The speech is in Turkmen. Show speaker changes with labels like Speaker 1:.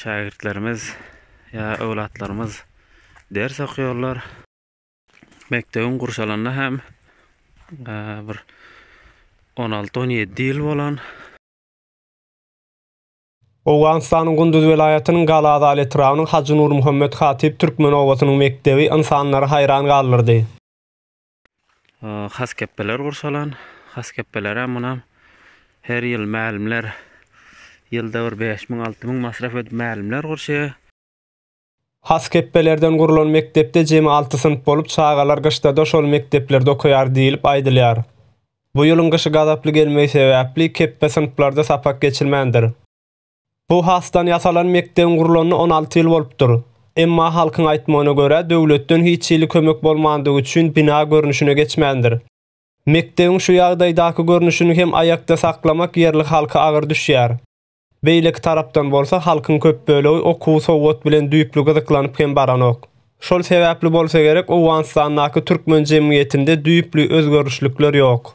Speaker 1: Şägirtlerimiz ýa öwlatlarymyz ders okýarlar. Mekdebiň gurşalanyna hem bir on alty on ýedi ýyl bolan.
Speaker 2: Owganystanyň Gunduz welaýatynyň Gala Azal etrabynyň Hajy Nurmuhammet Hatip türkmen obasynyň mekdebi ynsanlary haýran galdyrdy.
Speaker 1: Haskepbeler gurşalan. Haskepbelere munam her ýyl mälimler ýylda bir bäş müň, alty müň masraf edip mälimler gurşaýar. Haskepbelerden
Speaker 2: gurlan mekdepde jemi alty synp bolup, çagalar gyşda-da şol mekdeplerde okaýar diýlip aýdylýar. Bu ýylyň gyşy gazaply gelmegi sebäpli, kepbe synplarda sapak geçilmändir. Bu hasdan ýasalan mekdebiň gurlanyna on alty ýyl bolupdyr. Emma halkyň aýtmagyna görä, döwletden hiç hili kömek bolmandygy üçin bina görnüşine geçmändir. Mekdebiň şu ýagdaýdaky görnüşini hem aýakda saklamak ýerli halka agyr düşýär. Beýleki tarapdan bolsa, halkyň köp bölegi okuw, sowat bilen düýpli gyzyklanyp hem baranok. Şol sebäpli bolsa gerek, Owganystandaky türkmen jemgyýetinde düýpli özgerişlikler ýok.